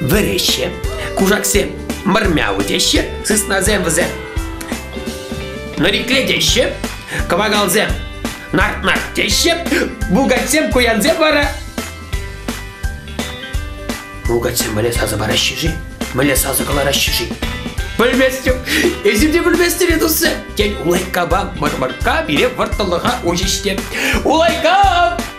Вӗреҫҫӗ. Кушаксем мӑрмяу теҫҫӗ, сыснасем вӗсем нӑрикле теҫҫӗ, кӑвакалсем нарт-нарт теҫҫӗ, бугатсем, куянсем вара Бугатсем мӗне сасӑ параҫҫӗ-ши? Мӗне сасӑ кӑлараҫҫӗ-ши? Пӗлместӗп, эсир те пӗлместӗр, тусӗ. Тен, улайккапа мӑрмӑркка пире вӑрттӑнлӑха уҫӗҫ те. Улайкка!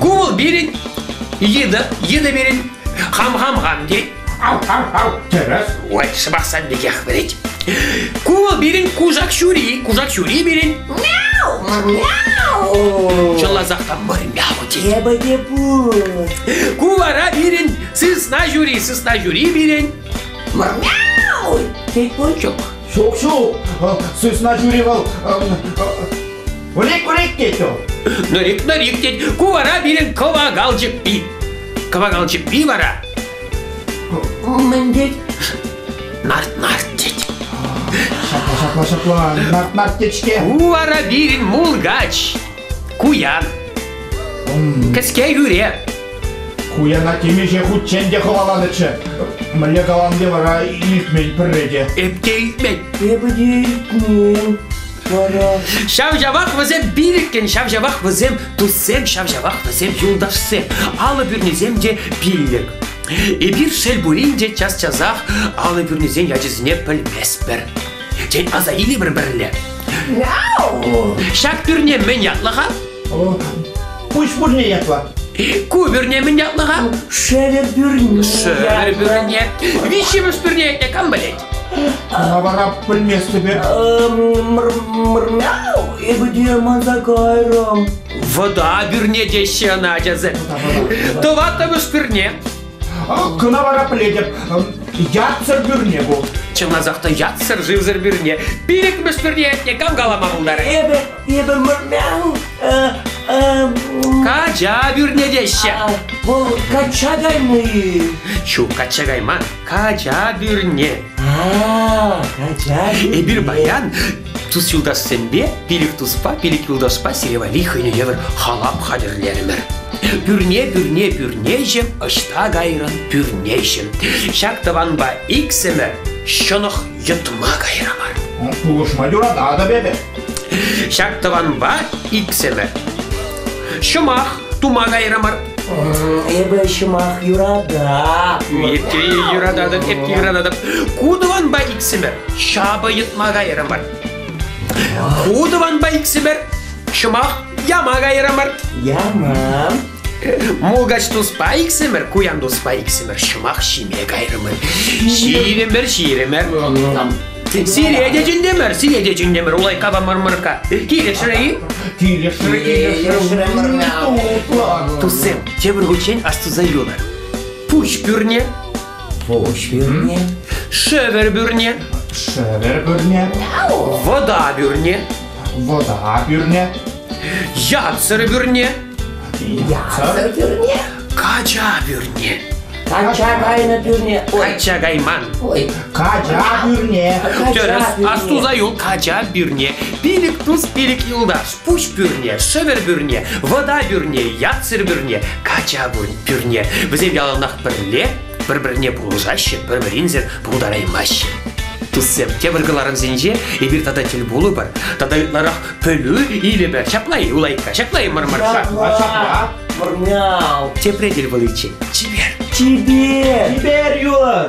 ку вӑл пирӗн йытӑ йытӑ пирӗн хам хам хам тет хам хам хам тӗрӗс ой сӑмах сан пекех вӗрет ку вӑл пирӗн кушак ҫури кушак ҫури пирӗн чӑлласах та мыр мяу тет Эпӗ те пул. ку вара пирӗн сысна ҫури сысна ҫури пирӗн Мырняу! Тет Пончук. Ҫук, ҫук, сысна жюри вӑл вылек вылек тет вӑл. Нырик, нырик тет, ку вара пирӗн кӑвакалчык пи. Кӑвакалчык пи вара? Мӗн тет? Нарт-нарт тет. Ҫапла, ҫапла, ҫапла, нарт-нарт тет-ҫке. Ку вара пирӗн мулгач. Куян. Кӗске хӳре. Куяна темиҫе хутчен те хӑваланӑччӗ. Мӗнле каланде вара илтмен пӗрре те. Эп те илтмен. Эпӗ те илтмен. Вара... Ҫав-ҫавах вӗсем пилӗккӗн, ҫав-ҫавах вӗсем туссем, ҫав-ҫавах вӗсем юлташсем. Алӑ пӳрнисем те пиллӗк. Эпир шел пулин те час-часах алӑ пӳрнисен ячӗсене пӗлместпӗр. Тен, аса илӗпӗр пӗрле. Ҫак пӳрне мӗн ятлӑ-ха? Куҫ пӳрне ятлӑ. Ку пӳрне мӗн ятлӑ-ха? Шерӗ пӳрне. Шерӗ пӳрне. Виҫҫӗмӗш пӳрне ятне кам пӗлет? Ана вара пӗлместӗпе. Мрмяу, эпӗ те манса кайрӑм. Вӑта пӳрне теҫҫӗ ӑна ачасем. Тӑваттӑмӗш пӳрне. Кӑна вара пӗлетӗп, ятсӑр пӳрне бу. Чӑнласах та ятсӑр шывсӑр пӳрне. Пилӗкмӗш пӳрне атне кам калама пултарать? Эпӗ, эпӗ мырмян. Кача пӳрне теҫҫӗ. Вӑл качча каймӗ-и? Ҫук, качча кайман. Кача пӳрне. А, кача. Эпир паян Тус-юлташсемпе пилӗк туспа, пилӗк юлташпа сире валли хӑйне евӗр халап хатӗрлерӗмӗр. Пӳрне-пӳрне пӳрнеҫӗм ӑҫта кайрӑн, пӳрнеҫӗм. Ҫак тӑванпа иксӗмӗр ҫӑнӑх йӑтма кайрӑмӑр. Пулӑшма юрататӑп эпӗ. Ҫак тӑванпа иксӗмӗр Ҫӑмах тума кайрӑмӑр. Эпӗ ҫӑмах юрататӑп. Эпте юрататӑп, эпте юрататӑп. Ку тӑванпа иксӗмӗр ҫапӑ йӑтма кайрӑмӑр. Ку тӑванпа иксӗмӗр ҫӑмах яма кайрӑмӑр. Яма. Мулкач туспа иксӗмӗр, куян туспа иксӗмӗр ҫӑмах ҫиме кайрӑмӑр. Ҫирӗмӗр, ҫирӗмӗр. Сире те чӗнтӗмӗр, сире те чӗнтӗмӗр, улайкка мӑрмӑрка. Килӗшрӗ-и? Туссем, тепӗр хутчен астуса юлар. Пуҫ пӳрне, Пуҫ пӳрне, шӗвӗр пӳрне, шӗвӗр пӳрне, вода пӳрне, вода пӳрне, Ятсӑр пӳрне. Ятсӑр пӳрне. Кача пӳрне. Кача кайнӑ пӳрне. Кача кайман. Ой, кача пӳрне. Тӗрӗс, астуса юл, кача пӳрне. Пилӗк плюс пилӗк юлташ. Пуҫ пӳрне, шӗвӗр пӳрне, вода пӳрне, ятсӑр пӳрне, кача пӳрне. Вӗсем яланах пӗрле Пӗр-пӗрне пулӑшаҫҫӗ, пӗр-пӗринсӗр пултараймаҫҫӗ. Туссем, тепӗр кӑларӑмсенче эпир тата тӗл пулӑпӑр. Тата ытларах пӗлӳ илӗпӗр. Ҫапла-и, Улайка? Ҫапла-и, Мӑрмарша? Ҫапла. Мӑрмял. Тепре тӗл пуличчен. Чипер. Чипер! Чипер юн!